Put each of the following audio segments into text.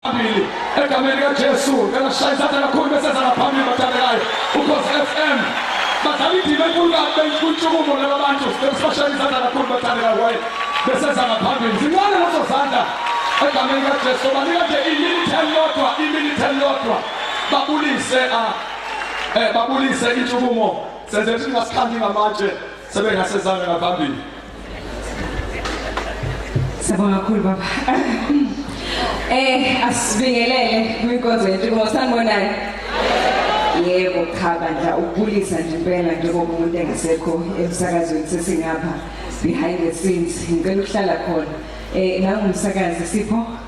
Abili egameni kaJesu ngelashaya izandla kakhulu bese zala phambili bathandekayo ukhosi FM badlala indima enkulu kabi bentshukumo laba bantu besibashaya izandla kakhulu bathandekayo kwaye bese zala phambili zincane lezo zandla egameni kaJesu banika nje iminithe elilodwa iminithe elilodwa babulise ah, eh, babulise intshukumo senze ukuthi singasikhanyi ngamatshe sebengasezanga ngaphambili Sabonga kakhulu baba. Eh asibingelele kwinkonzo yethu ngoba sanibonani. Yebo cha bandla ukubulisa nje impela njengoba umuntu engasekho emsakazweni sesingapha behind the scenes ngicela ukuhlala khona. Eh nangumsakazi sipho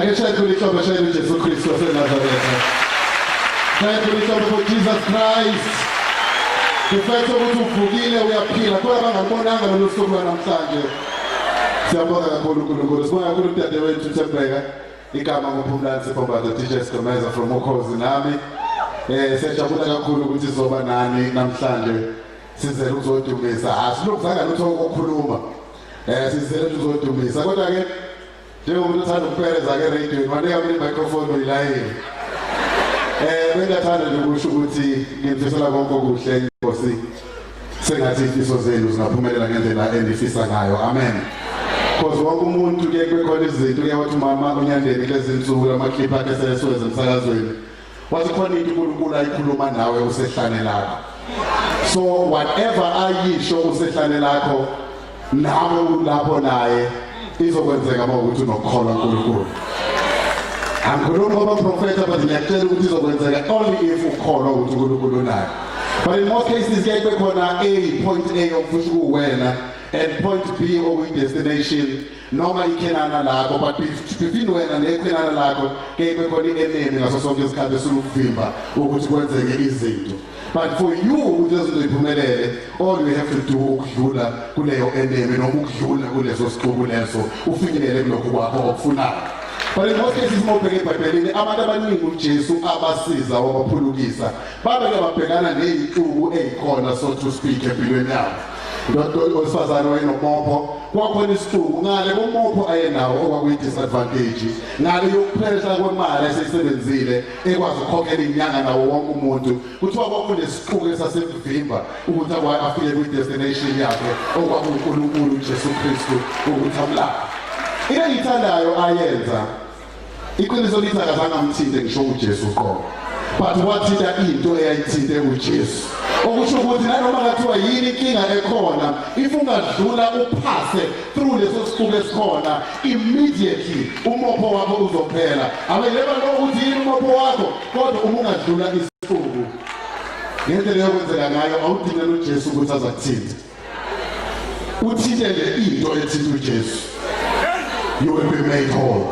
Ake shaya khona ihlombe shaya uJesu Kristu waseNazaretha. Shaya khona ihlombe for Jesus Christ. Ngifethe ukuthi uvukile uyaphila kuba bangabonanga lolu suku lwanamhlanje. Siyabonga kakhulu uNkulunkulu. Sibonga kakhulu udadewethu Thembeka. Igama nguPhumlani Siphoba the teacher Sgomeza from Ukhozi nami. Eh siyajabula kakhulu ukuthi sizoba nani namhlanje. Sizele ukuzodumisa. Asilokuzanga lutho ukukhuluma. Eh sizele ukuzodumisa kodwa ke njengomuntu othanda ukupereza ke radio wanika mina microphone uyilayile eh bengathanda nje ukusho ukuthi ngimfisela konke okuhle inkosi sengathi ifiso zenu zingaphumelela ngendlela enifisa ngayo amen because wonke umuntu kuye kwekhona izinto uyawathi umama unyandeni kulezi nsuku amakhipha akhe sesweze emsakazweni Wathi khona into uNkulunkulu ayikhuluma nawe usehlane lakho. So whatever ayisho usehlane lakho nawe ulapho naye izokwenzeka uma ukuthi unokukholwa uNkulunkulu. Angikhulumi ngoba profeta but ngiyakutshela ukuthi izokwenzeka only if ukholwa ukuthi uNkulunkulu unayo. But in most cases kuyaye kube khona A point A ofusha kuwena and point B okuyidestination noma ikhenana lakho but befini wena nekhenana lakho kebe khona i-enemy ngaso sonke isikhathi esilukuvimba ukuthi kwenzeke izinto but for you ukuthi lezinto ziphumelele all you have to do ukudlula kuleyo enemy noma ukudlula kuleso sixuku leso ufinyelele kulokhu kwakho okufunayo but in most cases uma ubheke ebhayibhelini abantu abaningi ujesu abasiza wabaphulukisa babeke babhekana neyintuku eyikhona so to speak empilweni yabo ndoda owesifazane wayenomopho kwakhona isihluku ngale komopho ayenawo okwakuyi-disadvantage ngale yokuphehla kwemali eseyisebenzile ekwazi ukukhokhela inyanga nawo wonke umuntu kuthiwa kwakunesiquku esasemvimba ukuthi akwaye afike kwi-destination yakhe okwakunkulunkulu ujesu kristu ukuthi amlaphe into engiyithandayo ayenza Iqiniso lithi akazange amthinte ngisho uJesu uqobo. But wathinta into eyayithinte uJesu. Okusho ukuthi nanoma kathiwa yini inkinga ekhona, if ungadlula uphase through leso siqubu esikhona, immediately umopho wakho uzophela. Abeleba lo ukuthi yini umopho wakho, kodwa uma ungadlula isiqubu. Ngento leyo kwenzeka ngayo awudinga noJesu ukuthi azakuthinte. uthintele into ethinta uJesu you will be made whole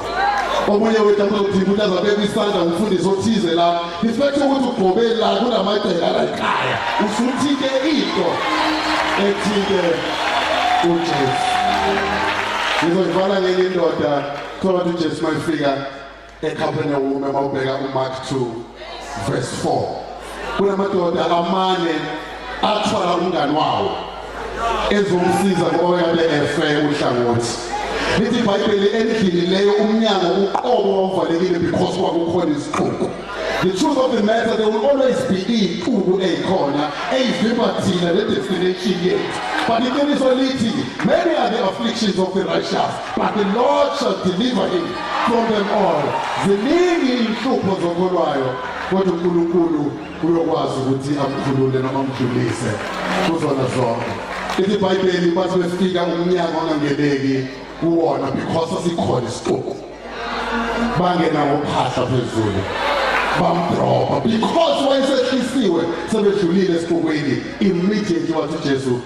omunye wethu akulokuthinta ukuthi azabeka isandla umfundisi othize la ngisiphethe ukuthi ugqobe la kunamagcela alayikhaya usuthinte into ethinte uJesu ngizoyivala ngenye indoda thola uJesu mayifika ekhaphenewume uma ubheka umark 2 verse 4 kunamadoda amane athwala umngane wawo ezomsiza ngoba yabe efe uhlangothi lithi ibhayibheli endlini leyo umnyango uqobo wawuvalekile because kwakukhona isixuku The truth of the matter, there will always be iy'qubu ey'khona ey'vimba thina le destination yethu but iqiniso lithi many are the afflictions of the righteous But the Lord shall deliver him from them all. Ziningi inhlupho zokolwayo kodwa uNkulunkulu uyokwazi ukuthi amkhulule noma amdlulise kuzona zonke. Ithi iBhayibheli bathi befika umnyango ongangeneki kuwona because asikhona isixuku. Bangena ngophahla phezulu. Bamdroba because wayesehlisiwe sebedlulile esixukweni immediately wathi Jesu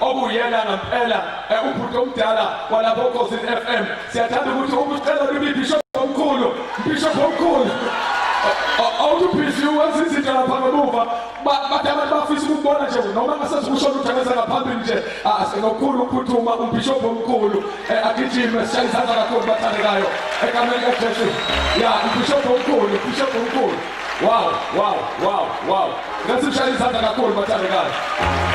okuyena ngempela eh, ubhuti omdala walapho Khosini FM siyathanda ukuthi ukucela kimi bishop omkhulu bishop omkhulu awutuphisi wenza izinto lapha ngemuva bathi abantu bafisa ukubona nje noma ngasesikushona uthengeza ngaphambili nje ah, ngokukhulu ukuphuthuma umbhishobhi omkhulu eh, agijime sishaye izandla kakhulu bathandekayo egameni likajesu ya umbhishobhi omkhulu umbhishobhi omkhulu Wow, wow, wow, wow. Ngathi ushaya izandla kakhulu bathandekazi.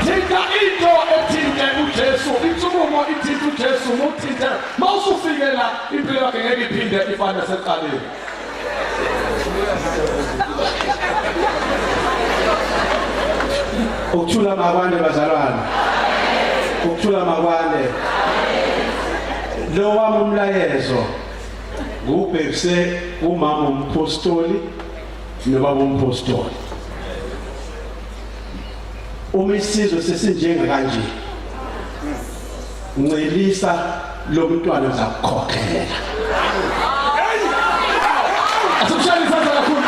Thinta into ethinte uJesu, insukumo ithinta uJesu, muthinte. Mawusufike la impilo yakhe ngeke iphinde ifane naseqaleni. Ukuthula makwane bazalwane. Ukuthula makwane. Lo wami umlayezo ngubhekise umama umphostoli nobaba umphostoli uma isizwe sesinjenga kanje ncelisa lo mntwana zakukhokhela asikushayele isandla kakhulu